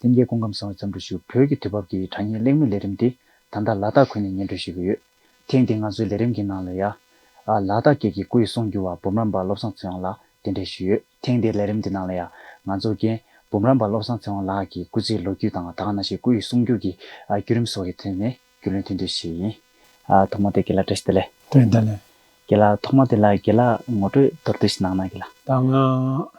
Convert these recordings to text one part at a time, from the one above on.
སེམས་ཀྱི་སྐོང་ཁམས་བཟང་བའི་བརྩམས་སྒྲུང་ཞིག་གོ་བོད་ཀྱི་དུས་བབ་ཀྱི་དྲ་བརྙན་གླེང་མོལ་ལས་རིམ་འདི་ད་ལྟ་ལ་དྭགས་ཁུལ་ནས་སྙན་སྒྲོན་ཞུས་ཀྱི་ཡོད། ཐེངས་འདིའི་ང་ཚོའི་ལས་རིམ་གྱི་ནང་ལ་ཡཱ། ལ་དྭགས་སྐད་ཀྱི་སྐུ་ཡི་གསུང་བསྒྱུར་བ་འབུམ་རམས་པ་བློ་བཟང་ཚེ་དབང་ལགས་གདན་འདྲེན་ཞུས་ཡོད། ཐེངས་འདིའི་ལས་རིམ་གྱི་ནང་ལ་ཡཱ། ང་ཚོ་རྒན། འབུམ་རམས་པ་བློ་བཟང་ཚེ་དབང་ལགས་ཀྱི་སྐུ་ཚེའི་ལོ་རྒྱུས་དང་ད་ག་ན་ཞིག་སྐུ་ཡི་གསུང་བསྒྱུར་གྱི་བརྒྱུད་རིམ་སོགས་ཀྱི་ཐད་ནས་རྒྱུས་ལོན་ཐེངས་དུས་བྱས་ཡིན། ཐོག་མར་དེ་དགེ་ལགས་བཀྲ་ཤིས་བདེ་ལེགས། བཀྲ་ཤིས་བདེ་ལེགས། དགེ་ལགས་ཐོག་མར་དེ་ལ་དགེ་ལགས་ངོ་སྤྲོད་མདོར་བསྡུས་ཤིག་གནང་ན་དགེ་ལགས། ད་སྔ།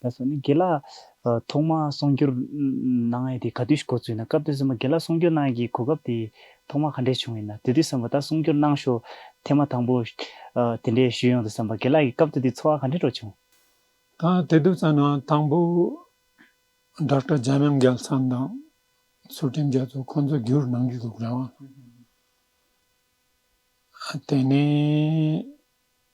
ད་སོ་ནི་དགེ་ལ། ཐོག་མ་གསུང་སྒྱུར་གནང་ཡས་དེ་ག་དུས་ཤིག་གོ་ཚུལ་ན་སྐབས་དེ་སོ་མ་དགེ་ལ་གསུང་སྒྱུར་གནང་ཡས་ཀྱི་གོ་སྐབས་དེ་ཐོག་མ་ག་འདྲས་བྱུང་ཡིན་ན་དེ་དུས་སོ་མ་ད་གསུང་སྒྱུར་གནང་ཤོ་ཐེ་མ་དང་པོ། དེ་འདྲས་ཞུས་ཡོང་དུ་སོ་མ་དགེ་ལ་ཡི་སྐབས་དེ་དུས་འཚོ་བ་ག་འདྲས་འགྲོ་བྱུང། ད་དེ་དུས་ཙམ་ན་དང་པོ། Doctor Jamyang Gyaltsam དང་ཚུལ་ཁྲིམས་རྒྱ་མཚོ་ཁོང་ཚོ་སྒྱུར་གནང་གི་འདུག་རང། དེ་ནས།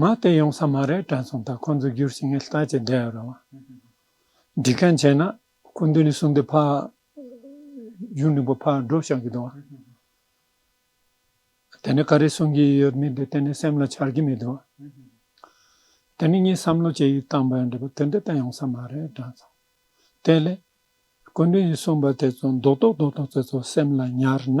ང་དེ་ཡོང་ས་མ་རེད་དྲན་སོང་ད་ཁོང་ཚོ་བསྒྱུར་ཞིག་ངས་ལྟ་ཅི་བསྡད་ཡོད་རེད་བ། འགྲིག་མཁན་བྱས་ན་སྐུ་མདུན་ནས་གསུང་དེ་ཕར། གཞུང་འབྲིང་པོ་ཕར་འགྲོ་བཞག་གི་འདུག་བ། དེ་ནས་ག་རེ་གསུང་གི་ཡོད་མི་འདི་གཏན་ནས་སེམས་ལ་འཆར་གི་མི་འདུག་བ། དེ་ནས་ངས་བསམ་བློ་ཅི་ཡིས་བཏང་པ་ཡང་འགྲིག་པ་དེ་འདི་ལྟ་ཡོང་ས་མ་རེད་དྲན་སོང། དེ་ལས། སྐུ་མདུན་གྱི་གསུང་པ་དེ་ཚོ་མདོག་མདོག་མདོག་མདོག་ཚོད་ཚོ་སེམས་ལ་ཉར་ན།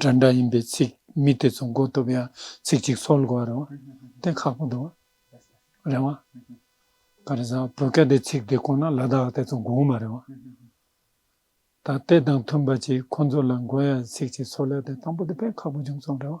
སྒྲ་འདྲ་ཡིན་པའི་ཚིག་མི་དེ་ཚོ་མགོ་གཏུབ་ཡང་ཚིག་གཅིག་འཚོལ་དགོས་པ་རེད་བ་དེ་ཁག་པོ་འདུག་རེད་བ། ད་རེས་བོད་སྐད་དེ་ཚིག་དེ་གོ་ན་ལ་དྭགས་དེ་ཚོ་དགོངས་མ་རེད་བ། ད་དེ་དང་མཐུན་པ་ཅིག་ཁོང་ཚོ་ལ་མགོ་ཡང་ཚིག་གཅིག་འཚོལ་ཡ་དེ་དང་པོ་དེ་དཔེ་ཁག་པོ་བྱུང་སོང་རེད་བ།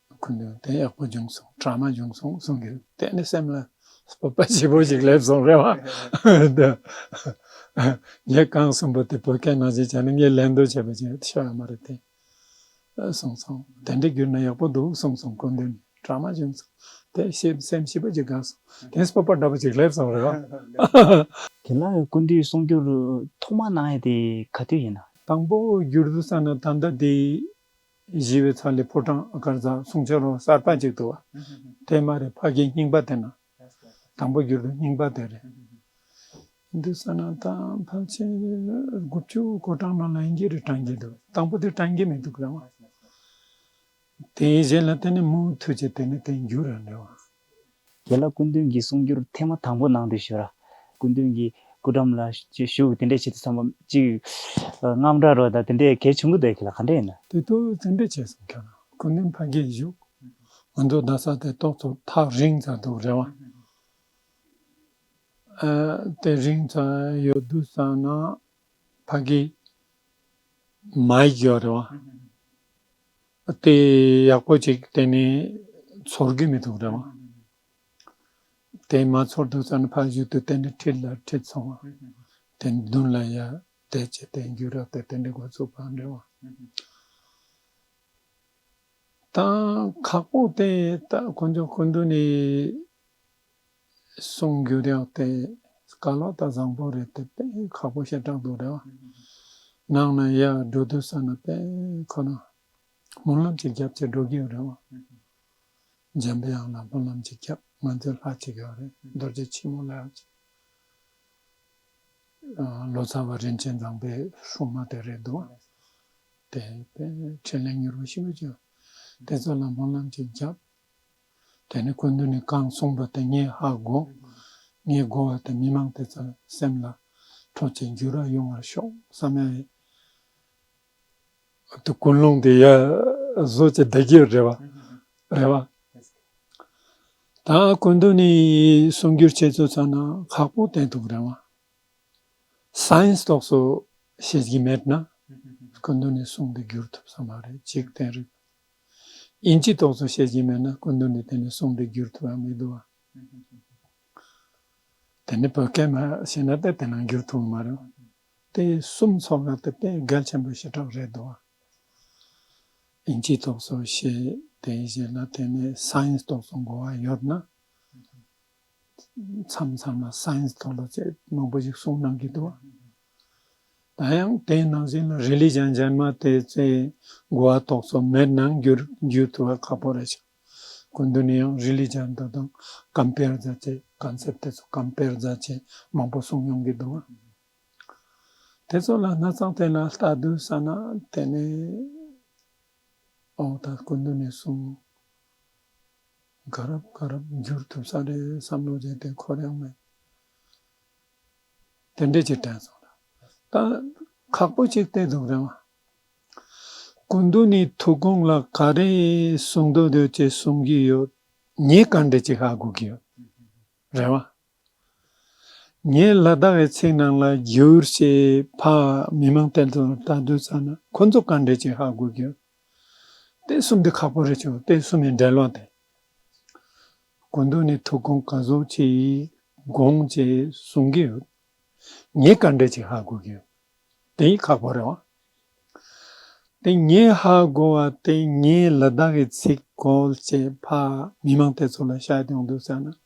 ཁོ་ནི་བདེན་ཡག་པོ་བྱུང་སོང་དྲ་མ་བྱུང་སོང་གསུང་གི་གཏན་ནས་སེམས་ལ་སྤོབས་པ་ལྗིད་པོ་ཞིག་སླེབས་སོང་རེད་བ། ངས་རྐང་གསུམ་པོ་དེ་བོད་སྐད་ནང་བཞིན་བྱས་ན་ངས་ལན་འདེབས་བྱས་པ་བཞིན་ཤོར་ཡ་མ་རེད་དེ། གསུང་སོང་དེ་འདྲས་བསྒྱུར་ན་ཡག་པོ་འདུག་གསུང་སོང་གོ་འདི་ནི་དྲ་མ་བྱུང་སོང་དེ་བཞིན་སེམས་ཞིབ་པོ་ཅིག་དགའ་སོང་དེ་སྤོབས་པ་འདྲ་པོ་ཅིག་སླེབས་སོང་རེད་བ། དེ་ལ་ཀུན་འདུས་གསུང་བསྒྱུར་ཐོག་མ་གནང་ཡས་དེ་ག་དུས་ཡིན་ན། དང་པོ་བསྒྱུར་འདུག་ས་ན་ད་ལྟ་དེ་བཞི་བའི་ཚ་ལས་ཕོ་བྲང་ཨ་དཀར་རྫ་གསུང་ཆོས་རོང་གསར་པ་ཅིག་ཏུ་བ་དན་མ་རེད་ཕ་རྒན་རྙིང་པ་དེ་ན་དང་པོ་གྱུར་དུས་རྙིང་པ་དེ་རེད། ཡིན་དུས་ས་ནང་དང་ཕལ་ཆེར་དགུ་བཅུ་གོ་གྲངས་ནང་ལ་ཨིན་སྐད་རེ་དྲངས་ཀྱི་འདུག་དང་པོ་དེ་དྲངས་ཀྱི་མི་འདུག་རེད་བ། དེའི་གཞན་ལ་དེ་ནི་མུ་མཐུད་ཀྱི་དེ་ནི་དེ་འགྱུར་རེད་བ། དེ་ལ་སྐུ་མདུན་གྱིས་གསུང་རྒྱུར་ཐེངས་མ་དང་པོ་གནང་དུས་ཞུ་ར། སྐུ་མདུན་གྱིས་སྐུ་འགྲམ་ལ་བཞུགས་དེ་འདྲས་བྱེད་དུ་བསམ་པ་གཅིག། རྔམ་སྒྲ་རོ་ད་དེ་འདྲས་གལ་ཆུང་གི་འདོད་གི་ལ་ག་འདྲས་ཡིན་ན། དེ་ཐོག་ཚིག་འགྲེལ་བྱས་སོང་ཁྱོད་རང་སྐུ་མདུན་ཕ་གིའི་བཞུགས། ང་ཚོ་རྡ་ས་དེ་ཏོག་ཙམ་ཐག་རིང་ཙམ་འདུག་རེད་བ། དེ་རིང་ཙམ་ཡོད་དུས་བསམ་ན་ཕ་གིའི། མ་ཡིག་ཡོད་རེད་བ། དེ་ཡག་པོ་ཅིག་གཏན་ནས་ཚོར་གི་མི་འདུག་འདྲ། དེ་མ་ཚོར་འདུག་ཙང་ཕ་གཞུག་ཏུ་གཏན་ནས་ཁྲིད་ལ་ཁྲིད་སོང་བ། དེ་མདུན་ལ་ཡར་བལྟས་ཇེ་བལྟས་འགྱུར་རབས་དེ་གཏན་ནས་འགོ་བཙུགས་པ་འདྲ། དང་ཁག་པོ་དེ་ད་ཁོ་ཚོ་སྐུ་མདུན་ནས། གསུང་རྒྱུ་རེད་བལྟས། དཀའ་ལག་ད་བཟང་པོ་རེད་དེ་དཔེ་ཁག་པོ་ཞེ་དྲག་འདུག་རེད་བ། ནང་ན་ཡ་འགྲོ་དུས་ས་ན་དཔེ་ཁོ་ན། སྨོན་ལམ་ཅིག་བརྒྱབ་ཅེས་འགྲོ་གི་ཡོད་རེད་བ། འཇམ་དབྱངས་ལ་སྨོན་ལམ་ཅིག་བརྒྱབ་ང་ཚོའི་ལྷ་གཅིག་ཡོད་རེད་རྡོ་རྗེ་ཆེན་མོ་ལྷ་གཅིག། ལོ་ཙཱ་བ་རིན་ཆེན་བཟང་པའི་ཧྲུའུ་མ་དེ་རེད་འདུག་དེ་དཔེ་ཕྲིན་ལས་མྱུར་བ་ཞིག་འབུལ་གྱི་ཡོད། དེ་ཚོ་ལ་སྨོན་ལམ་ཅིག་བརྒྱབ། དེ་ནི་ཀུན་ཏུ་ནི་གང་གསུངས་པ་དེ་ཉིད་ཧ་གོ། ངས་བསྒོ་བ་དེ་མི་མང་དེ་ཙམ་སེམས་ལ་འཕྲོ་བཅས་འགྱུར་ར་ཡོང་བར་ཤོག་བསམ་ཡང་ཡིན། དེ་ཀུན་སློང་དེ་ཡ་བཟོ་བྱེད་བདེ་སྐྱིད་རེད་བ། རེད་བ། ད་ཀུན་ཏུ་ནི་གསུང་སྒྱུར་བྱེད་ཚུལ་ཚང་ན་ཁག་པོ་བསྟན་འདུག་རེད་བ། Science དོགས་སུ་བྱེད་ཀྱི་མེད་ན་ཀུན་ཏུ་ནི་གསུང་དེ་བསྒྱུར་ཐུབ་ས་མ་རེད་ཅིག་བསྟན་རིགས། དབྱིན་ཇིས་དོགས་ཟོན་བྱེད་ཀྱིན་མེད་ན་སྐུ་མདུན་གྱིས་དེ་ནས་བཟུང་འདི་བསྒྱུར་ཐུབ་ཨང་མི་འདུག་ཨང། དེ་ནི་བོད་སྐད་མ་ཤེས་ན་དེ་དེ་ནང་བསྒྱུར་ཐུབ་མ་རེད། དེ་གསུམ་ཚོགས་ལ་དེ་དཔེ་གལ་ཆེན་པོའི་བྱེ་བྲག་རེད་འདུག་ཨང། དབྱིན་ཇིས་དོགས་ཟོན་བྱེད་དེའི་རྗེས་ལ་དེ་ནས science དོགས་ཟོན་དགོས་པ་ཡོད་ན། མཚམས་མཚམས་ལ Science ཐོག་ལ་ཅེས་མང་པོ་ཞིག་གསུངས་གནང་གི་འདུག་ད་ཡང་དེའི་ནང་བཞིན་ལ Religion རྗེས་མ་དེ་ཚེ་འགོ་བ་ཐོག་ཚོ་མེད་ནང་འགྱུར་འགྱུར་ཐུབ་པ་ཁག་པོ་རེད་ཆགས་གོ་འདི་ནས་ཡང Religion དེ་དང Compare རྫ་ཅེས Concept དེ་ཚོ Compare རྫ་ཅེས་མང་པོ་གསུངས་མྱོང་གི་འདུག་དེ་ཚོ་ལ་སྣ་ཚང་དེ་ལ་ལྟ་དུས་ས་ན་དེ་ནས་ཨོ་ད་གོ་འདི་ནས་གསུངས། དགའ་རབ་དགའ་རབ་འགྱུར་ཐུབ་ས་རེད་བསམ་བློ་བྱས་དེ་འཁོར་ཡང་མེད། དེ་འདྲས་ཀྱི་དྲན་སོང་རེད། ད་ཁག་པོ་གཅིག་བལྟས་འདུག་རེད་མ། སྐུ་མདུན་ནས་ཐུགས་དགོངས་ལ་ག་རེ་གསུང་འདོད་འདོད་ཅེས་གསུང་གི་ཡོད། ངས་ག་འདྲས་ཅིག་ཧ་གོ་གི་ཡོད་རེད་མ། ངས་ལ་དྭགས་ཡི་ཚིག་ནང་ལ་བསྒྱུར་ཞེས་ཕག་མི་མང་བསྟན་དོན་ལ་ལྟ་འདོད་ཚར་ན་ཁོ་ཚོ་ག་འདྲས་ཀྱི་ཧ་གོ་རྒྱུ། བསྟན་གསུམ་འདི་ཁག་པོ་རེད་ཆོག་བསྟན་གསུམ་ཡི་འགྲེལ་བ་དེ་གོ་འདུག་ནས་ཐུགས་དགོངས་ག་ཟུག་ཅིག་དགོངས་ཅེས་གསུང་གི་ཡོད། ངས་ག་འདྲས་ཀྱི་ཧ་གོ་རྒྱུ། དེ་ཡི་ཁག་པོ་རེད་བ། དེ་ངས་ཧ་གོ་བ་དེ་ངས་ལ་དྭགས་ཡི་ཚིག་གོ་ཅེས་ཕག་མི་མང་བསྟན་ཚོ་ལ་བཤད་ཡོང་འདོད་ཚར་ན།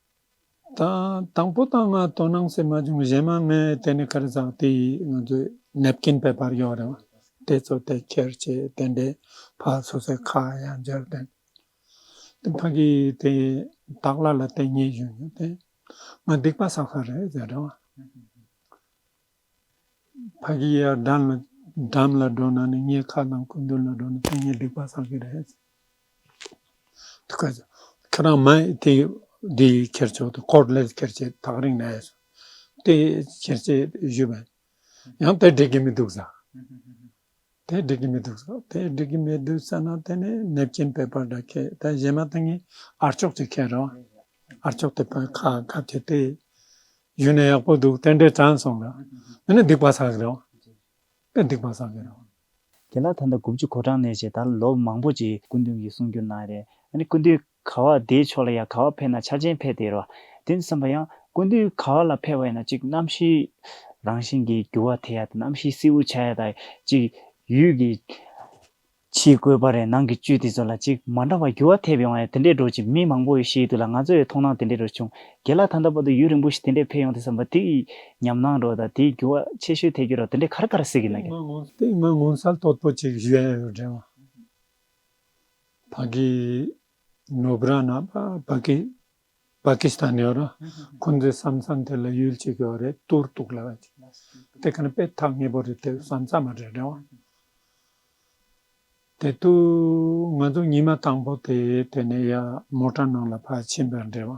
དང་པོ་དང་ལྔ་དོ་སྣང་སེམས་མ་བྱུང་གཞན་མ་ལྔས་དེ་ནི་གར་ཟག་དེ་ཡིས་ང་ཚོས་ནེབ་ཀིན་བེད་པར་ཡོད་རེད་བ། དེ་ཚོ་དེ་ཁྱེར་ཅེས་དེ་འདྲའི་ཕ་སོ་སའི་ཁ་ཡང་འཇར་བསྟན། དེ་ཕ་གིས་དེ་དག་ལ་ལ་དེ་ཉེས་ཞུས་ཡོད་དེ། ང་སྡིག་པ་བསགས་ས་རེད་ཟེར་རེད་བ། ཕ་གི་ཡར་འདམ་ལ་འདམ་ལ་འགྲོ་ན་ནི་ངའི་ཁ་དང་སྐུ་མདུན་ལ་འགྲོ་ན་ཕན་ངེས་སྡིག་པ་བསགས་ཀྱི་རེད། དུ་ཁ་ཟེར། ཁྱོད་རང་མ་ཡི་དེ་འདི་ཡིས་ཁྱེར་ཆོག་དུ་ཁོར་ལེར་ཁྱེར་ཆེད་ཐག་རིང་ནས་ཟེར། དེ་ཁྱེར་ཆེད་བཞུད་པ། ཡང་དེ་འགྲིག་གི་མི་འདུག་ཟ། དེ་སྒྲིག་གི་མི་འདུག་ཟེར་དེ་སྒྲིག་གི་མི་འདུག་ཟེར་ན་དེ་ནི་ནེབ་ཀྱིན་པའི་པར་དག་ཁེ་དེ་གཞན་མ་དེ་ངའི་ཨར་ཅོག་ཅིག་ཁེ་རོ་ཨར་ཅོག་དེ་པར་ཁ་ཁ་བྱས་ཏེ་ཡུན་ནས་ཡག་པོ་འདུག་དེ་འདྲས་དྲན་སོང་ལ་དེ་ནི་སྡིག་པ་ཟ་གི་རེད་དེ་སྡིག་པ་ཟ་གི་རེད། དེ་ལ་ད་ལྟ་དགུ་བཅུ་གོ་གྲངས་ནས་བྱས་ད་ལོ་མང་པོ་ཅིག་སྐུ་མདུན་གྱིས་གསུང་རྒྱུ་གནང་རེད་ཨ་ནི་སྐུ་མདུན། ག་བ་དེའི་ཕྱོགས་ལ་ཡང་ག་བ་འཕེལ་ན་ཆ་ཅན་འཕེལ་ཏེ་རོ། དེ་ནི་བསམ་པ་ཡང། ཀུན་དུ་ག་བ་ལ་འཕེལ་བ་ཡིན་ན་གཅིག་རྣམ་ཤེས། རང་བཞིན་གྱིས་རྒྱུ་བ་དེ་ཡང་དང་རྣམ་ཤེས་སྲིད་བུ་ཆ་ཡང་དང་གཅིག། ཡུལ་གྱི། ཕྱིའི་བཀོད་པ་རེ་ནང་གི་བཅུད་དེ་ཚོ་ལ་གཅིག་མ་འདྲ་བ་རྒྱུ་བ་ཐེབས་ཡོང་བ་ཡང་དེ་འདྲའི་འགྲོ་ཅིག་མི་མང་པོ་ཡོད་ཤེས་ཡོད་དུ་ལ་ང་ཚོའི་མཐོང་སྣང་དེ་འདྲའི་རུ་བྱུང། དེ་ལ་ད་ལྟ་བར་དུ་ཡུན་རིང་པོ་ཞིག་དེ་འདྲའི་འཕེལ་ཡོང་དེ་བསམ་པ་དེ་ཡི། ཉམས་སྣང་འགྲོ་དང་དེའི་རྒྱུ་བ་ཆེ་ཤོས་ཐེབས་ཀྱི་རོ་དེ་འདྲའི་གར་ག་ར་སྲིད་ཀྱི་ན་གི། དེ་སྔོན་ངོ་མཚར་དོད་པོ་ཅིག་བཞེངས་ཡོད་རེད་བ། བྷ་གི་ནོ་བྷ་ར་ན་བྷ་གི་བྷ་གི་སི་ཐན་ཡོད་ར་ཁོ་ཚོའི་བསམ་བསམ་དེ་ལ་ཡུལ་གཅིག་ཡོད་རེད་ཏུར་ཏུག་ལ་བ་ཅིག་དེ་ག་ནི་དཔེ་ཐག་ངེས་པོ་རེད་དེ་བསམ་བསམ་མ་རེད་རེད་བ། དེ་དུ་ང་ཚོ་ཉི་མ་དང་པོ་དེ་དེ་ནས་ཡ་མོ་ཏྲ་ནང་ལ་བ་ཕྱིན་པ་རེད་བ།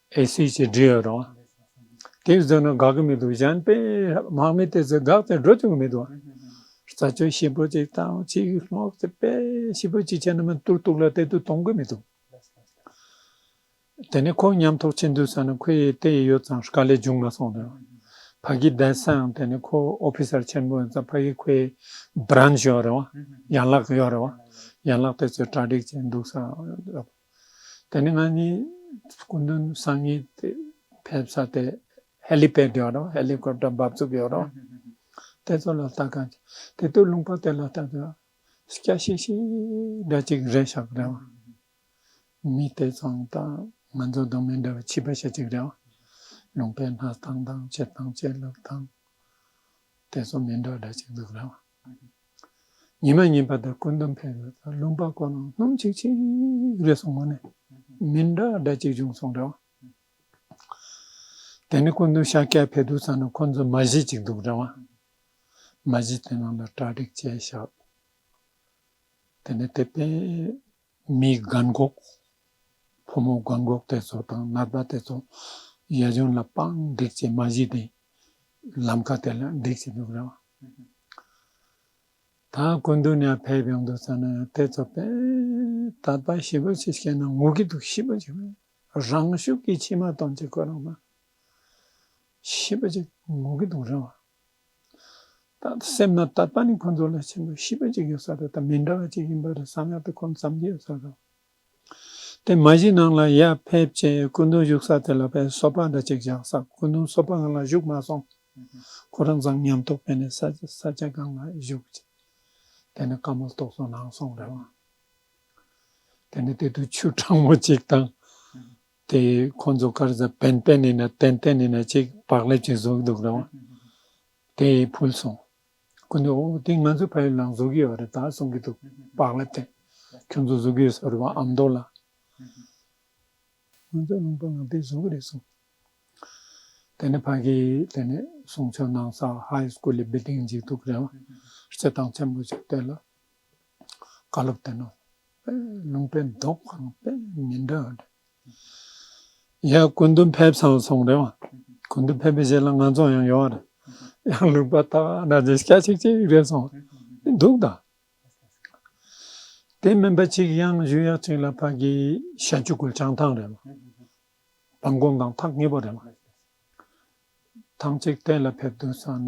ཨེ་སི་ཅི་འབྲི་ཡོད་རང། དེ་བཟོས་ན་དགའ་གི་མི་འདུག་གཞན་དཔེ་དམག་མི་དེ་ཚོས་དགག་སྟེ་འགྲོ་ཐུབ་ཀྱི་མི་འདུག། རྩ་སྤྱོད་ཞིབ་པོ་ཅིག་དང་ཆེས་ལྷག་ཏུ་དཔེ་ཞིབ་པོ་ཅིག་བྱས་ན་མི་ཏུར་ཏུག་ལ་དེ་དུས་གཏོང་གི་མི་འདུག། དེ་ནས་ཁོ་ཉམས་ཐོག་ཕྱིན་དུས་ས་ན་ཁོའི་ཡི་དེ་ཡོད་ཙང་དཀའ་ལས་འབྱུང་མ་སོང་དོན། ཕ་གི་གདན་སའང་དེ་ནས་ཁོ་ཨོ་ཕི་སར་ཆེན་པོ་ཡིན་ཙང་ཕ་གི་ཁོའི་བརན་ཞོ་ཡོད་རེད་བ། ཡན་ལག་ཡོད་རེད་བ། ཡན་ལག་དེ་ཚོས་གྲ་སྒྲིག་བྱས་འདུག་ས་ཡོད་རེད་བ། དེ་ནས་ང་གཉིས་སྐུ་མདུན་སང་ཉིན་དེ་ཕེབས་ས་དེ་ཧེ་ལི་པད་ཡོད་རོགས་ཧེ་ལི་ཀོབ་ཏར་འབབ་ཚུགས་ཡོད་རོགས་དེ་ཚོ་ལ་ལྟ་ག་དེ་དུས་ལུང་པ་དེ་ལ་ལྟ་ག་སྐྱ་ཤིག་ཤིག་འདྲ་ཅིག་རེད་ཤག་རེད་བ། མི་དེ་ཚང་དང་ང་ཚོ་དང་མི་འདྲ་བའི་བྱིས་པ་ཞེ་གཅིག་རེད་བ། ལུང་པའི་སྣ་ཐང་དང་བྱེད་སྟངས་བྱེད་ལུགས་དང་དེ་ཚོ་མི་འདྲ་འདྲ་ཅིག་འདུག་རེད་བ། ཉི་མ་ཉིན་པ་དང་སྐུ་མདུན་ཕེབས་ཡོད་ཚ་ལུང་པ་ཀོ་ནང་སྣུམ་ཆིག་ཆིག་རེད་སོང་ངོ་ནས་མིན་འདྲ་འདྲ་ཅིག་བྱུང་སོང་འདྲ་བ། དེ་ནས་སྐུ་མདུན་ཤཱཀྱ་ཕེབས་འདུག་ཚ་ནས་ཁོང་ཚོ་མ་གཞི་ཅིག་འདུག་འདྲ་བ། མ་གཞི་དེ་ནང་ལ་གྲ་སྒྲིག་བྱས་ཤག་དེ་ནས་དེ་པས། མིའི་རྒན་གོག། ཕོ་མོ་རྒན་གོག་དེ་ཚོ་དང་ནར་པ་དེ་ཚོ་ཡ་གཞོན་ལ་པང་བསྒྲིགས་བྱེད་མ་གཞི་དེ་ལམ་ཁ་དེ་ལ་བསྒྲིགས་བྱེད་འདུག་ར་བ། ད་ཀུན་དུ་ནས་ཕེབས་ཡོང་འདུག་ས་ན་དེ་ཚོ་པས་ད་པ་ཞི་བོ་ཆེ་བཤད་ན་ངུ་གི་འདུག་ཞི་བོ་ཆེ་བས་རང་ཤུགས་ཀྱིས་མཆི་མ་གཏོང་བྱེད་ཁོ་རང་པ་ཞི་བོ་ཆེ་ངུ་གི་འདུག་ར་བ། ད་ལྟ་སེམས་ན་ད་ལྟ་ནི་ཁོ་ཚོ་ལས་ཆེན་པོའི་ཤིས་པ་ཅིག་ཡོད་ས་རེད་དམ་མི་འདྲ་བ་ཅིག་ཡིན་པ་རེད་བསམ་ཡག་ཏུ་ཁོང་བསམ་གྱི་ཡོད་ས་རེད། དེ་མ་གཞི་ནང་ལ་ཡར་ཕེབས་རྗེས་སྐུ་མདུན་བཞུགས་ས་དེ་ལ་ཕའི་སོ་ཕག་འདྲ་ཅིག་བཞག་ས་སྐུ་མདུན་སོ་ཕག་ང་ལ་བཞུགས་མ་སོང། ཁོ་རང་བཟང་ཉམས་ཐོག་ཕེབས་ནས་ས་ས་སྐྱ་སྒང་ལ་བཞུགས་རྗེས་དེ་ནས་བཀའ་མོལ་ཏོག་ཙོ་གནང་སོང་རེད་བ། དེ་ནས་དེ་དུས་ཆུ་གྲང་མོ་ཅིག་དང། དེ་ཁོ་ཚོ་སྐར་རྩ་བན་བན་ནས་ན་ཏན་ཏན་ནས་ན་གཅིག་བག་ལེབ་ཅིག་བཟོ་གི་འདུག་རོང་དེ་ཕུལ་སོང། ཁོ་ནས་ཨོ་དེ་ང་ཚོའི་ཕ་ཡུལ་ནང་བཟོ་གི་ཡོད་རེད་ད་གསུང་གི་འདུག་བག་ལེབ་དེ་ཁྱོད་ཚོ་བཟོ་གི་ཡོད་ཟེར་བ་ཨམ་མདོ་ལ། ང་ཚོའི་རླུང་པ་ནང་དེ་བཟོ་གི་རེད་གསུང། དེ་ནས་ཕ་གི་དེ་ནས་གསུང་ཆོས་གནང་ས High School ལི་བི་ལྡིང་ཅིག་འདུག་རེད་བ། སྤྱི་བཏང་ཆེན་པོ་ཅིག་དེ་ལ་བཀའ་སློབ་དེ་གནང། ལུང་པའི་མདོ་ཁང་དཔེ་མི་འདྲ་བ་རེད། ཡང་ཀུན་ཏུ་ཕེབས་སམ་གསུངས་རེད་བ། ཀུན་ཏུ་ཕེབས་པའི་རྗེས་ལ་ང་ཚོ་ཡང་ཡོང་བ་རེད། ཡང་ལུང་པ་ལྟ་བ་འདྲ་ཆེ་ཆ་ཆིག་ཅིག་རེད་གསུངས་འདུག་ད། དེ་མིན་པ་ཅིག་ཡང་བཞུགས་ཡག་ཅིག་ལ་ཕ་གི་ཞལ་ཆུ་ཁོལ་བྱང་ཐང་རེད་བ། བ་འགོམ་དང་ཐག་ངེས་པོ་རེད་བ། ཐང་ཅིག་གཏན་ལ་ཕེབས་འདུག་ས་ན།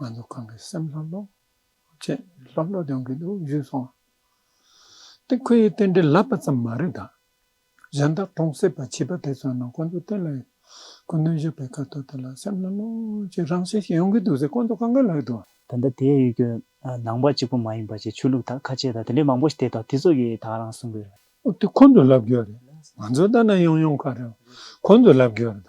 ང་ཚོ་གང་གི་སེམས་ལྷོད་ལྷོད་བྱེད་ལྷོད་ལྷོད་ཡོང་གི་འདུག་བཞུད་སོང། དེ་ཁོའི་རྟེན་འབྲེལ་ལབ་པ་ཙམ་མ་རེད་ད། གཞན་དག་གྲོང་གསེབ་པ་བྱིས་པ་དེ་ཚོ་རྣམས་ཁོ་ཚོ་རྟེན་ལ་ཁོ་གནོད་བཞག་པའི་སྐབས་ཐོག་དེ་ལ་སེམས་ལྷོད་ལྷོད་བྱེད་རང་བཞིན་ཞིག་ཡོང་གི་འདུག་ཟེར་ཁོ་ཚོ་གང་གི་ལག་ཏུ། ད་ལྟ་དེ་ཡོད་རྒྱུ་ནང་པ་གཅིག་པོ་མ་ཡིན་པ་བཅས་ཆོས་ལུགས་དག་ཁ་ཆེ་དག་དེ་འདྲའི་མང་པོ་ཞིག་དེ་དང་དེ་ཚོ་གིས་དག་རང་གསུངས་གི་རེད། ཨོ་དེ་ཁོ་ཚོ་ལབ་རྒྱུ་རེད། ང་ཚོ་ལྟ་ན་ཡོང་ཡོང་ཁ་རེད། ཁོ་ཚོ་ལབ་རྒྱུ་རེད་ད།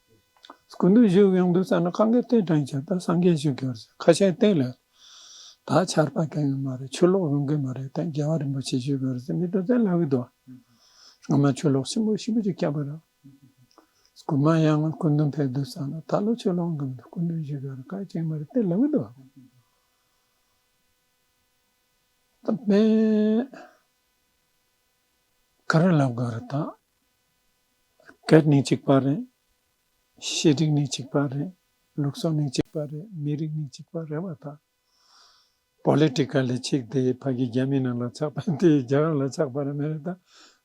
ཀུན་ཏུ་བཞུགས་ཡོངས་འདུ་ཚར་ན་གང་གཱའི་སྟེང་བྲན་བྱ་དང་སངས་རྒྱས་བཞུགས་ཀྱི་རེད་ཁ་ཆེའི་སྟེང་ལས་ད་ཆར་པ་གན་ཡོད་མ་རེད་ཆོས་ལོག་ཡོང་གི་མ་རེད་དེ་རྒྱལ་བ་རིན་པོ་ཆེ་བཞུགས་ཀྱི་རེད་མི་དོན་ཚན་ལ་བས་དོ་སྔོན་མ་ཆོས་ལོག་ཆེན་པོ་ཞིབ་པོ་ཅིག་བསྐྱབས་པ་རེད་ཀུན་མ་ཡང་ང་ཀུན་ཏུ་འཕེལ་འདུ་ཚར་ན་ད་ལོ་ཆོས་ལོག་འགྲོ་མི་འདུག་ཀུན་ཏུ་བཞུགས་ཀྱི་རེད་ཁ་ཆེའི་མ་རེད་དེ་ལ་བས་དོ། ད་དཔེ། ག་རེ་ལབ་ག་རེ་དག། སྐད་ནི་གཅིག་པ་རེད། ཤེས་སྒྲིག་ནི་གཅིག་པ་རེད། ལུགས་སྲོལ་ནི་གཅིག་པ་རེད་མི་རིགས་ནི་གཅིག་པ་རེད་བ་དག། Politically ཆིག་དེའི་ཕ་གི་རྒྱ་མི་རྣམས་ལ་ཆགས་པ་དེའི་རྒྱ་རབ་ལ་ཆགས་པ་རེད་མི་རེད་དག་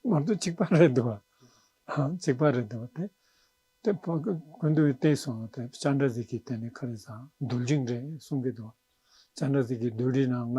ངོ་ཏུ་གཅིག་པ་རེད་འདུག་བ། གཅིག་པ་རེད་འདུག་བ་དེ། དེ་ཕ་གི་གོན་དུ་བསྟན་སོང་བ་དེ་ལྕགས་འདྲ་ཟིག་གིས་དེ་ནི་ག་རེ་ཟ་རྡུལ་འབྲིང་རེད་གསུང་གི་འདུག་བ། ལྕགས་འདྲ་ཟིག་གིས་རྡུལ་འདྲིའི་ནང་ན་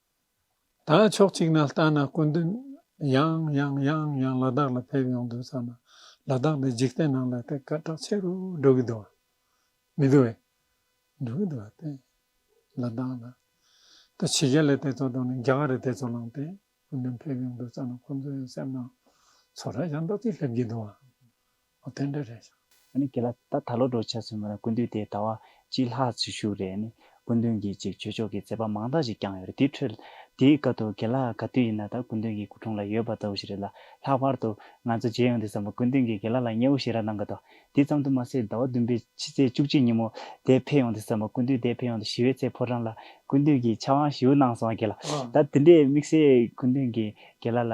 ད་ཕྱོགས་གཅིག་ན་ལྟ་ན་སྐུ་མདུན་ཡང་ཡང་ཡང་ཡང་ལ་དྭགས་ལ་ཕེབས་ཡོང་འདུག་ཙང་ན་ལ་དྭགས་ལས་འཇིག་རྟེན་ནང་ལ་དེ་ག་གྲགས་ཆེ་རུ་འགྲོ་གི་འདུག་མི་འདུག་བས། འགྲོ་གི་འདུག་བ་སྟེ། ལ་དྭགས་ལ། ད་ཕྱི་རྒྱལ་ལས་དེ་ཚོ་དང་ནི་རྒྱ་གར་རེ་དེ་ཚོ་ལང་སྟེ་སྐུ་མདུན་ཕེབས་ཡོང་འདུག་ཙང་ན་ཁོང་ཚོ་ཡང་སེམས་ནང་ཚོར་ར་ཡང་དག་ཅིག་སླེབས་ཀྱི་འདུག་བ། ཨོ་དེ་འདྲ་རེད། ཨ་ནི་ཁྱེད་ལ་ད་ད་ལོ་འགྲོ་ཆ་ཚུལ་མ་ར་ཀུན་འདུས་དེ་ད་བ་གཅིག་ལྷག་ཚུལ་ཞུ་རེད་ཨ་ནི་ཀུན་འདུན་གྱིས་ཅིག་ཆོས་ཕྱོགས་ཀྱི་མཛད་པ་མང་དག་ཅིག་བསྐྱངས་ཡོད་རེད་དེའི་ཁྲོད་དེའི་སྐབས་དུ་ཁྱེད་ལ་ག་དུས་ཡིན་ན་ད་ཀུན་འདུན་གྱི་སྐུ་འཁྲུངས་ལ་ཡོད་པ་ལྟ་བུ་ཞིག་རེད་ལ་ལྷག་པར་དུ་ང་ཚོ་རྗེས་ཡོང་དུ་བསམ་པ་ཀུན་འདུན་གྱིས་ཁྱེད་ལ་ལ་མཉེ་བོ་ཞིག་ར་གནང་གི་འདུག་དེ་ཙམ་དུ་མ་ཟད་ཟླ་བ་བདུན་པའི་ཕྱི་ཚེས་བཅུ་གཅིག་ཉིན་མོ་དེ་ཕེབས་ཡོང་དུ་བསམ་པ་ཀུན་འདུན་དེ་ཕེབས་ཡོང་དུ་ཞི་བའི་ཚེ་ཕོ་བྲང་ལ་ཀུན་འདུན་གྱིས་ཕྱག་དབང་ཞུ་གནང་སོང་ཁྱེད་ལ་ད་དེ་འདྲའི་དམིགས་བསལ་ཀུན་འདུན་གྱིས་ཁྱེད་ལ་ལ།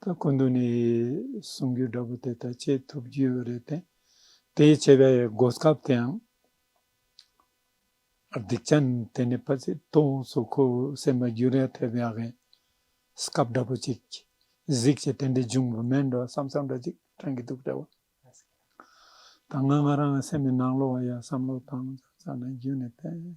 ད་ཀུན་ཏུ་ནི་གསུང་གི་སྒྲ་བུ་དེ་ལྟར་སྐྱེད་ཐུབ་རྒྱུ་རེད་དེ། དེའི་བྱས་པའི་སྒོ་སྐབས་དེའང། སྡིག་ཅན་དེ་ནི་ཕ་ཚིག་སྟོང་སོ་ཁོ་བོའི་སེམས་པ་རྒྱུན་རེ་ཐེབས་ཡ་གིན། སྐབས་འདྲ་པོ་གཅིག་གཟིགས་ཀྱི་དེ་འདྲའི་འབྱུང་བ་མེད་འགྲོ་བསམ་བསམ་འདྲ་གཅིག་དྲན་གྱི་འདུག་བྲལ་བ། ད་ང་ང་རང་གི་སེམས་པའི་ནང་ལོགས་ཡ་བསམ་བློ་བཏང་བྱ་ན་རྒྱུན་ནས་བསྟན།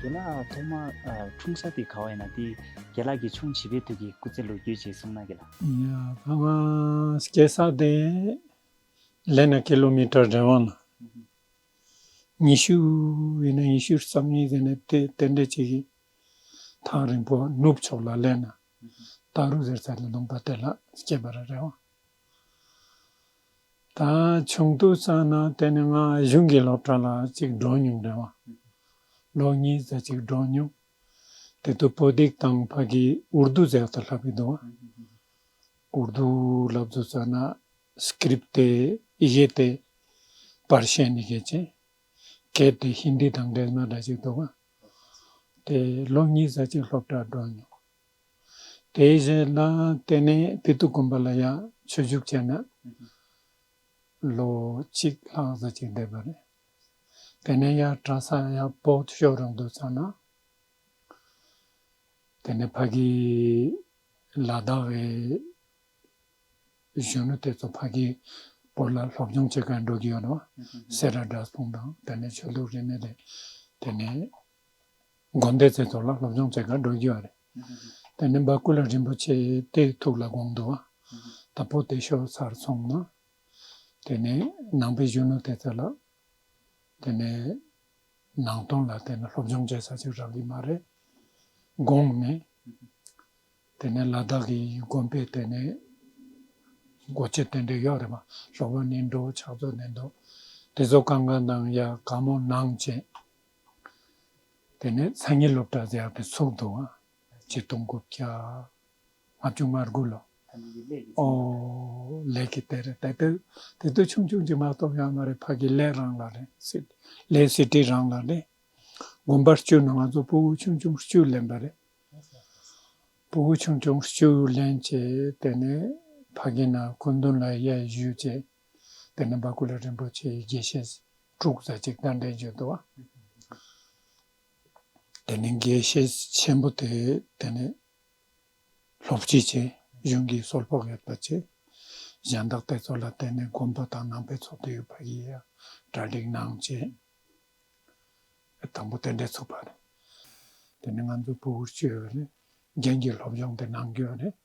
རྒྱ་ནག་ཐོག་མ་འཁྲུངས་ས་དེ་ག་བ་ཡིན་ན་དེ་རྒྱ་ལག་གི་ཆུང་བྱིས་པའི་དུས་ཀྱི་སྐུ་ཚེ་ལོ་རྒྱུས་ཅེས་གསུངས་ན་གི་ལ། ཕ་མ་སྐྱེས་ས་དེ་ལས་ན་ཀི་ལོ་མི་ཀྲ་རེ་བང་ན་ཉི་ཤུ་ཡིན་ན་ཉི་ཤུ་རྩ་གཉིས་དེ་ནས་དེ་རྟེན་འབྲེལ་བྱེད་ཀྱི་ཐང་རིང་པོ་ནུབ་ཕྱོགས་ལ་ལས་ན་ཏཱ་རུ་ཟེར་ས་དེ་ལུང་པ་དེ་ལ་སྐྱེས་པ་རེ་རེ་བང། ད་ཆུང་དུ་བསམ་ན་དེ་ནི་ང་གཞུང་གི་སློབ་གྲྭ་ལ་གཅིག་འགྲོ་མྱོང་རེད་བ། ལོ་གཉིས་རྩ་གཅིག་འགྲོ་མྱོང། དེ་དུས་བོད་སྡིག་དང་ཕ་གིས་འུར་རྡོ་རྫས་ལྟར་ལྷབ་ཀྱི་འདུག་བ། འུར་རྡོ་ལབ་རྡོ་བཙལ་ན Script དེ་གཞས་ཏེ་པར་བཤད་ནི་གལ་ཆེ། གལ་ཏེ་ཧིན་དི་དང་འབྲེལ་ན་འདྲ་ཅིག་འདུག་བ། དེ་ལོ་གཉིས་རྩ་གཅིག་སློབ་གྲྭ་འགྲོ་མྱོང། དེ་བཞིན་ན་དེ་ནས་བདུད་དུ་གོམས་པ་ལ་ཡང་ཆོས་བཞུགས་བྱས་ན། ལོ་གཅིག་ལྷག་གཟི་བརྗིད་ལྡན་པ་རེད། དེ་ནས་ཡང་གྲྭ་ས་ཡང་བོགས་ཤོར་རུང་འདུག་ཙམ་ན། དེ་ནས་ཕ་གི་ལ་དྭགས་བའི་གཞོན་ནུ་དེ་ཚོ་ཕ་གི་སྐོར་ལ་སློབ་སྦྱོང་བྱེད་མཁན་འགྲོ་གི་ཡོད་ནོ། སེ་ར་སྒྲ་གསུང་དང་དེ་ནས་ཆོས་ལུགས་རིས་མེད་རེད་དེ་ནས། དགོན་སྡེ་རྩེ་ཐོག་ལ་སློབ་སྦྱོང་བྱེད་ཁར་འགྲོ་རྒྱུ་ཡང་རེད། དེ་ནས་འབའ་སྐུ་ལ་རིན་པོ་ཆེ་སྟེ་ཐུགས་ལ་དགོངས་འདུག་ད་པོ་ཏེ་ཤོག་ཚར་སོང་ན། དེ་ནས་ནང་པའི་གཞོན་ནུ་དེ་ཚོ་ལ། དེ་ནས་ནང་དོན་ལ་དེ་ནས་སློབ་སྦྱོང་བྱེད་ས་ཅིག་རག་གི་མ་རེད་དགོངས་ནས། དེ་ནས་ལ་དྭགས་ཀྱི་དགོན་པའི་དེ་ནས་འགོ་བྱེད་དེ་འདྲས་ཡོད་རེད་མ་ཞོག་པ་ནས་འགྲོ་ཆགས་ཚོ་ནས་འདུག་དེ་ཚོ་གང་གང་དང་ཡ་ག་མོ་ནང་བྱེད། དེ་ནས་མཚན་ཉིད་སློབ་གྲྭ་རྒྱལ་གྱི་ཚོགས་འདུ་བ། ཆིག་སྟོང་དགུ་བརྒྱ་ལྔ་བཅུ་ང་དགུ་ལོ། ཨོ། ལས་ཀྱི་དེ་རེད་དེ་དུས་དེ་དུས་ཆུང་ཆུང་གཅིག་མ་གཏོགས་ཡང་མ་རེད་ཕ་གི་ལས་རང་ལ་རེད། ལས་སྲིད་སྟེགས་རང་ལ་རེད། དགོན་པར་བསྐྱོད་ནས་ང་ཚོ་སྤོ་བོ་ཆུང་ཆུང་བཅུ་ལེན་པ་རེད། སྤོ་བོ་ཆུང་ཆུང་བཅུ་ལེན་བྱས་དེ་ནས་ཕ་གི་ན་སྐུ་མདུན་ལ་གཡས་བཞུགས་བྱས། དེ་ནས་འབར་ཁུ་ལ་རིན་པོ་ཆེའི་དགྱེས་བཤད་དྲུག་རྩ་གཅིག་རྟ་མགྲིན་བརྗོད་དོ། དེ་ནས་དགྱེས་བཤད་ཆེན་པོ་དེ་དེ་ནས་ལྷོ་བསྐྱིལ་བྱས། གཞུང་གི་སྲོལ་ཕོགས་ཡོད་པར་བྱས། གཞན་དག་དེ་ཚོ་ལ་བརྟེན་ནས་མགོན་པོ་དང་ནང་པའི་ཚོགས་འདུ་ཡོད་པ་ཡི་ཡང་གྲ་སྒྲིག་གནང་བྱས། དང་པོ་དེ་འདྲས་ཚུགས་པ། དེ་ནས་ང་ཚོ་བུ་བུར་བཅོལ་བས་ནས་རྒྱན་གྱི་སློབ་སྦྱོང་དེ་གནང་རྒྱུ་བས་ནས།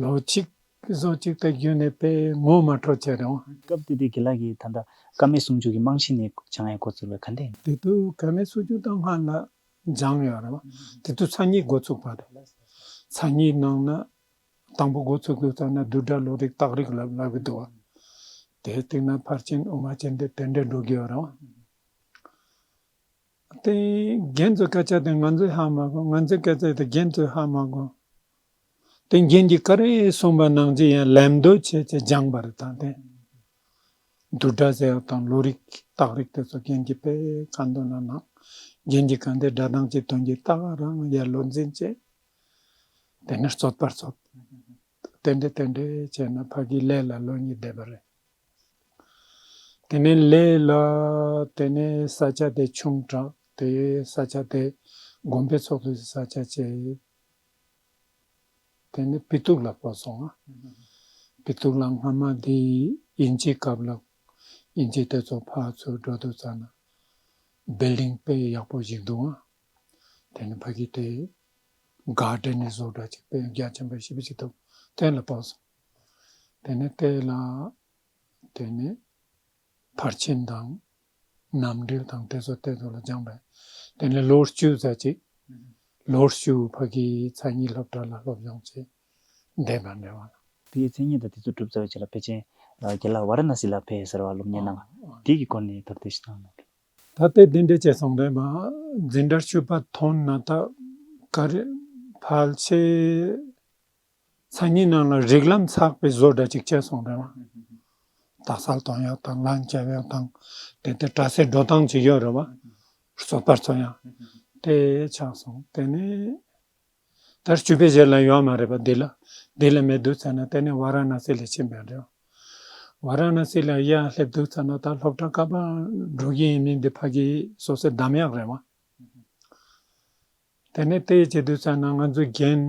ལོ་གཅིག་གསོ་གཅིག་དང་བརྒྱུད་ནས་དཔེ་ངོ་མ་འཕྲོ་བཅད་རུང། སྐབས་དེ་དུས་དགེ་ལགས་ཀྱིས་ད་ལྟ་ཀ་མད་སུམ་ཅུ་གྱི་རྨང་གཞི་ནས་བྱང་ཡས་འགོ་བཙུགས་པའི་ག་འདེང། དེ་དུས་ཀ་མད་སུམ་ཅུ་དང་ལྔ་ལ་སྦྱངས་ཡོད་རུང་དེ་དུས་ཚ་གཉིས་འགོ་བཙུགས་པ་རེད། ཚ་གཉིས་ནང་ན་དང་པོ་འགོ་བཙུགས་དུས་ཚ་ན་བསྡུས་གྲྭ་ལོ་རིགས་སྟག་རིགས་ལ་ལབ་ཀྱི་འདུག་དེའི་སྟེང་ན་ཕར་ཕྱིན་དབུ་མ་ཅན་དེ་དེ་འདྲས་འགྲོ་གི་ཡོད་རུང། དེ་རྒན་ཚོའི་སྐད་ཆ་དེ་ང་ཚོས་ཧ་མ་གོ་ང་ཚོའི་སྐད་ཆ་དེ་རྒན་ཚོས་ཧ་མ་གོ། དེ་མཁན་གྱི་ཀ་རའི་གསུངས་པ་ནང་ཚིག་ཡང་ལད་མདོ་བྱས་ཚེ་སྦྱངས་པ་རེ་དང་དེ། བསྡུར་སྒྲ་ཟེར་བ་དང་ལོ་རིག་སྟག་རིག་དེ་ཚོ་མཁན་གྱི་དཔེ་ཀ་མདོ་ན་སྣང། མཁན་གྱི་ཀ་འདི་སྒྲ་གདངས་ཀྱི་དོན་གྱི་རྟགས་ཀ་རང་ཡལ་ལོ་འཛིན་བྱེད། དེ་ནི་རྩོད་པར་རྩོད། རྟེན་འབྲེལ་རྟེན་འབྲེལ་བྱས་ན་ཕ་གིའི་ལས་ལ་ལོ་གཉིས་བསྡད་པ་རེད། དེ་ནས་ལས་ལ་དེ་ནས་ས་ཆ་དེ་ཆུང་དྲགས་དེ་ས་ཆ་དེ་དགོན་པའི་ཚོགས་འདུ་ས་ཆ་བྱས། དེ་ནས་པི་ཏུ་ལག་པ་སོང་ང། པི་ཏུ་ལག་སྔ་མ་དེ་དབྱིན་ཇིའི་སྐབས་ལགས། དབྱིན་ཇི་དེ་ཚོ་ཕར་ཚུར་འགྲོ་འདུག་ཙང་ན། Building དཔེ་ཡག་པོ་ཞིག་འདུག་ང། དེ་ནས་ཕ་གིས་དེ་དགའ་དྲན་ནས་བཟོ་འདྲ་ཅིག་དཔེ་རྒྱ་ཆེན་པོ་ཞིབ་ཅིག་འདུག་དེ་ལ་བབས་སོང། དེ་ནས་དེ་ལ་དེ་ནས། ཕར་ཕྱིན་དང། རྣམ་འགྲེལ་དང་ཏེ་སོ་ཏའི་མདོ་ལ་སྦྱངས་པས་དེ་ནས་ལོ་བཅུ་རྩ་གཅིག། ལོ་བཅུ་ཕ་གིའི་ཚ་གཉིས་སློབ་གྲྭ་ལ་སློབ་སྦྱོང་བྱས། འདས་པར་འབྲེལ་བ་ལ། དེའི་མཚན་ཉིད་དང་དེ་ཚོ་སྒྲུབ་རྩ་བའི་ཆེད་ལ་པེ་ཅན། རྒྱལ་ལ་བ་ར་ན་སི་ལ་ཕེ་ཟེར་བ་སློབ་གཉེར་གནང། དེའི་གི་སྐོར་ནས་དོར་ཏེ་ཤི་ཐང་ན་ཕེ། ད་ལྟའི་དེ་འདྲའི་བཅས་ཚོང་དོན་པ་འཛིན་གྲྭར་ཆུད་པ་ཐོན་ན་ད་ཀར་ཕལ་ཆེར་མཚན་ཉིད་རྣམས་ལ་རིགས་ལམ་ཚགས་པའི་བཟོ་འདྲ་ཅིག་སྤྱད་སོང་རེད་བ། རྡ་སར་དོང་ཡག་དང་ལ་མཇལ་ཡག་དང་དེ་ལྟའི་གྲྭ་སའི་འགྲོ་སྟངས་ཅིག་ཡོད་རེད་བ། བཟོ་པར་ཚོ་ཡང་དེ་ཆགས་སོང་དེ་ནས་དར་བཅུ་པའི་གཞི་ལ་ཡོད་མ་རེད་བ་འདི་ལ་འདི་ལ་མེད་འདུག་ཚེ་ན་དེ་ནས་བ་ར་ན་སི་ལ་ཕྱིན་པའི་རེད་བ། བ་ར་ན་སི་ལ་ཡར་སླེབས་འདུག་ཚེ་ན་ད་སློབ་གྲྭ་ཀ་པ་འགྲོ་གི་ཡིན་མིན་འདི་ཕ་གིའི་བཟོ་སའི་གདམས་ཡག་རེད་བ། དེ་ནས་དེ་ཡི་བྱེད་དུ་བཅར་ན་ང་ཚོའི་རྒན་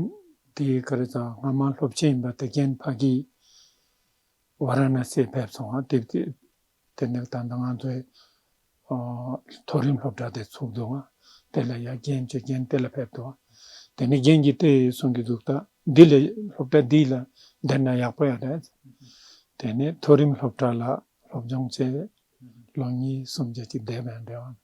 དེ་ག་རེ་ཙང་སྔ་མ་སློབ་ཆེན་ཡིན་པ་དེ་རྒན་ཕ་གིས་བ་ར་ན་སེ་ཕེབས་སོང་ང་དེབ་དེ་དེ་ནས་ད་ལྟ་ང་ཚོའི་མཐོ་རིམ་སློབ་གྲྭ་དེ་ཚུགས་འདུག་ང་དེ་ལ་ཡ་རྒན་ཅེས་རྒན་དེ་ལ་ཕེབས་འདུག་ང་དེ་ནས་རྒན་གྱིས་དེ་གསུང་གི་འདུག་ད་འདི་ལས་སློབ་གྲྭ་འདི་ལ་བསྡད་ན་ཡག་པོ་ཡ་རེད་དེ་ནས་མཐོ་རིམ་སློབ་གྲྭ་ལ་སློབ་སྦྱོང་བྱས་ལོ་གཉིས་གསུམ་བརྒྱད་ཅུ་བསྡད་པའི་འབྲས་བ་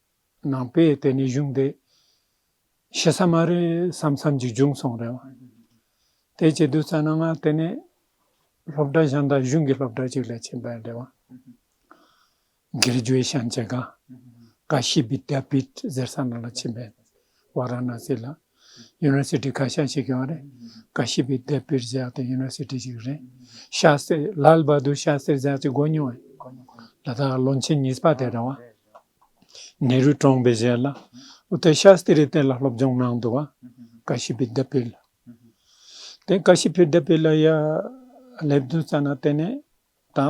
ནང་པས་དེ་ནས་གཞུང་འདི། ཤི་ས་མ་རེད་བསམ་བསམ་གྱི་འབྱུང་སོང་རེད་བ། དེ་ཅི་བསྡུ་ཙ་ན་ང་དེ་ནས། སློབ་གྲྭ་ཞང་དང་གཞུང་གི་སློབ་གྲྭ་ཅིག་ལས་ཆེན་པ་རེད་བ། སྒེར་རྒྱུའི་ཤང་ཆེ་ག། ཀ་ཤི་བི་དཱ་བིད་ཟེར་ས་ན་ལ་ཆེན་པའི་བ་ར་ན་སི་ལ། University ཁ་ཤས་ཤིག་ཀྱང་རེད། ཀ་ཤི་པའི་དེབ་དཔེར་བཞག་དེ University ཞིག་རེད། ཤ་སེར་ལྷལ་བ་དུ་ཤ་སེར་བཞག་ཅིག་གོ་མྱོང་ཨེ། ད་ལྟ་ལོ་ཆེན་གཉིས་པ་དེ་རེད་བ། ནེ་རུའི་གྲོངས་པའི་རྗེས་ལ། འོ་དེ་ཤ་སེ་རི་དེ་ལ་སློབ་སྦྱོང་གནང་འདུག་བ། ཀ་ཤི་པའི་དེབ་དཔེ་ལ། དེ་ཀ་ཤི་པའི་དེབ་དཔེ་ལ་ཡ་སླེབས་འདུག་ཙ་ན་དེ་ནས་ད།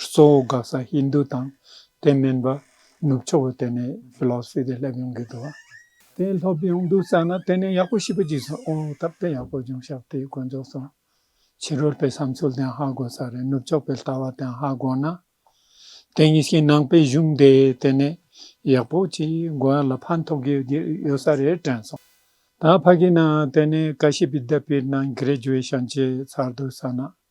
གཙོ་བོ་དགག་ས་ཧིན་དྷུ་དང་དེ་སྨན་པ་ནུབ་ཕྱོགས་པ་དེ་ནས Philosophy དེ་སླེབས་ཡོང་གི་འདུག། དེ་ལྷོད་ཡོང་འདུག་བསམ་ན་དེ་ནས་ཡག་པོ་ཞིབ་པོ་བགྱིས་སོང་ཨོ་ད་དཔེ་ཡག་པོ་བྱུང་ཤག་དེའི་དཀོན་མཆོག་སོང། ཕྱི་རོལ་པའི་བསམ་ཚུལ་དེའང་ཧ་གོ་ས་རེད་ནུབ་ཕྱོགས་པའི་ལྟ་བ་དེའང་ཧ་གོ་ན། དེ་གཉིས་ཀྱི་ནང་པའི་གཞུང་དེ་དེ་ནས་ཡག་པོ་བགྱིས་མགོ་ཡར་ལ་ཕན་ཐོགས་ཀྱི་ཡོད་ས་རེད་དྲན་སོང། ད་ཕ་གི་ནང་དེ་ནས་ཀ་ཤི་པའི་དད་པའི་ནང Graduation བྱས་ཚར་འདུག་བསམ་ན།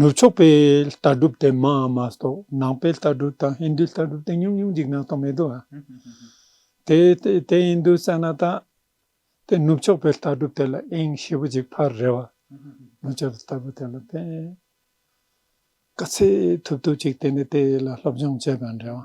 ནུབ་ཕྱོགས་པའི་ལྟ་གྲུབ་དེ་མང་མ་གཏོགས་ནང་པའི་ལྟ་གྲུབ་དང་ཧིན་རྡུའི་ལྟ་གྲུབ་དེ་ཉུང་ཉུང་ཅིག་ནང་སྟོང་མེད་དོ། དེ་དེ་ཡིན་དུ་བསམ་ན་ད་དེ་ནུབ་ཕྱོགས་པའི་ལྟ་གྲུབ་དེ་ལ་ཨེང་ཞེ་པོ་ཅིག་ཕར་རེ་བ། ནུབ་ཕྱོགས་པའི་ལྟ་གྲུབ་དེ་ལ་དེ་དཀའ་ཚེགས་ཐུབ་ཐུབ་ཅིག་དེ་ནས་དེ་ལ་སློབ་སྦྱོང་བྱས་པའང་རེ་བ།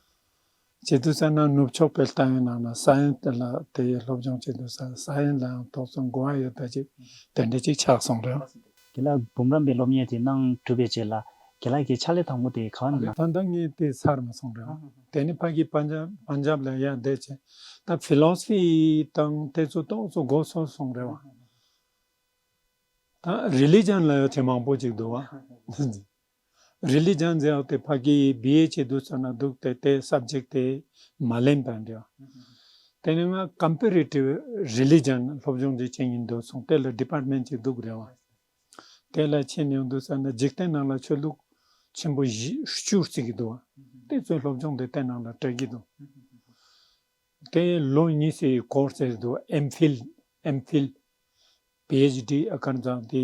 བྱེད་དུ་བཅར་ན་ནུབ་ཕྱོགས་པའི་ཏང་ཡོན་རྣམས་ལ་ས་ཡོམ་དེ་ལ་དེ་ཡིས་སློབ་སྦྱོང་བྱེད་དུ་ཟ་ས་ཡོན་ལའང་ཐོག་བརྩོན་འགོ་བ་ཡོད་ད་ཅིག་དེ་འདྲ་ཅིག་ཆགས་སོང་རེད། དེ་ལ་འབུམ་རམས་པའི་སློབ་གཉེར་དེ་གནང་གྲུབ་པའི་རྗེས་ལ་དགེ་ལགས་ཀྱི་ཕྱག་ལས་དང་པོ་དེ་ག་བ་ན། ད་ལྟ་ངས་དེ་ཚར་མ་སོང་རེད། དེ་ནི་ཕ་གིའི་པ་འཇམ་ལ་ཡར་འདེད་བྱས་སྟབས Philosophy དང་དེ་ཚོ་ཏོག་ཙོ་མགོ་ཚོར་སོང་རེད་བ། ད Religion ལ་ཡོ་བྱད་མང་པོ་ཅིག་འདུག་བ། རི་ལི་ལྗང་འཛིན་འོག་ཏུ་ཕ་གི་ཡིས་སྦི་ཡའི་ཆེད་དུ་ཚོན་ལ་འདུག་སྟེ་དེ་ས་བརྗེགས་ཏེ་མ་ལེན་པར་འགྲོ། དེ་ནས་ང་ཀམ་པི་རི་ཏི་རི་ལི་ལྗང་སློབ་སྦྱོང་རྒྱུ་ཆེན་ཡིན་འདུག་སོང་དེ་ལ Department གཅིག་འདུག་རེད་བ། དེ་ལ་ཕྱིན་ཡོང་འདུག་ས་ན་འཇིག་རྟེན་ནང་ལ་ཆོས་ལུགས་ཆེན་པོ་བཞི་བཅུ་རྩིས་ཀྱི་འདུག་བ། དེ་ཚོའི་སློབ་སྦྱོང་འདི་རྟེན་ནང་ལ་སྤྲད་ཀྱི་འདུག་དེ་ལོ་གཉིས་སའི Course བྱས་འདུག MPhil། སྦི་ཨེཆ་ལྡི་ཨ་ཀར་མཛངས་ཏེ།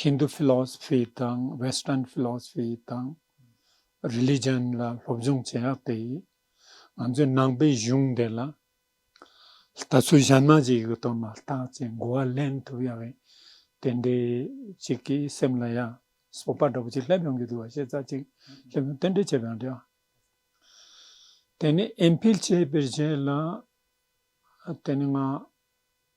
Hindu Philosophy དང Western Philosophy དང Religion ལ་སློབ་སྦྱོང་བྱེད་ཡག་དེ་ཡིན། ང་ཚོའི་ནང་པའི་གཞུང་འདི་ལ་ལྟ་ཚུལ་གཞན་མ་ཞིག་ཡོད་དོ་མ་ལྟ་ཅེས་མགོ་བ་ལེན་ཐུབ་ཡ་བའི་དེ་འདྲའི་ཅིག་གི་སེམས་ལ་ཡ་སོ་པ་འདྲ་པོ་ཅིག་སླེབས་ཡོང་གི་འདུག་བ་ཤེས་ཚ་ཅིག་སླེབས་ཡོང་རྟེན་འབྲེལ་བྱས་པའང་འདྲ། དེ་ནས་ཨེམ་ཕིལ་བྱས་པའི་རྗེས་ལ་དེ་ནས་ང་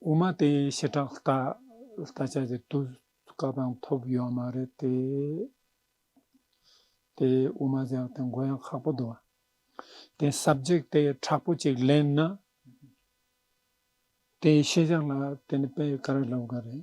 དབུ་མ་དེ་ཞི་དྲག་ལྟ་ལྟ་བྱ་རྒྱུ་དུས་སྐབས་དང་ཐོབ་ཡོད་མ་རེད་དེ། དེ་དབུ་མ་བཞག་སྟེ་མགོ་ཡང་ཁག་པོ་བསྡུ་བ། དེ་ཟབ་འཇུག་དེ་དྲག་པོ་གཅིག་ལེན་ན། དེ་ཤེས་བྱ་ལ་དེ་ནི་དཔེ་ག་རེ་ལབ་དགོས་རེད།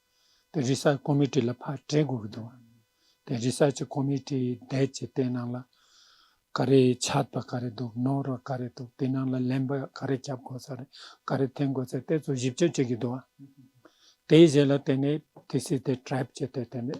དེ་རིགས་སའི་ཁོ་མི་ཏྲི་ལ་ཕར་སྤྲད་དགོས་ཀྱི་འདུག་དེ་རིགས་སའི་ཁོ་མི་ཏྲི་འདས་ཀྱི་ལྟས་ནང་ལ་ག་རེ་ཆགས་པ་ག་རེ་འདུག་ནོར་བ་ག་རེ་འདུག་དེ་ནང་ལ་ལན་པ་ག་རེ་རྒྱབ་དགོས་ས་རེད་ག་རེ་འཐེན་དགོས་ས་དེ་ཚོ་ཞིབ་དཔྱད་བྱེད་ཀྱི་འདུག་དེའི་རྗེས་ལ་དེ་ནས་དེ་སྲིད་དེ་གྲབས་བྱས་ཏེ་དེ་ནས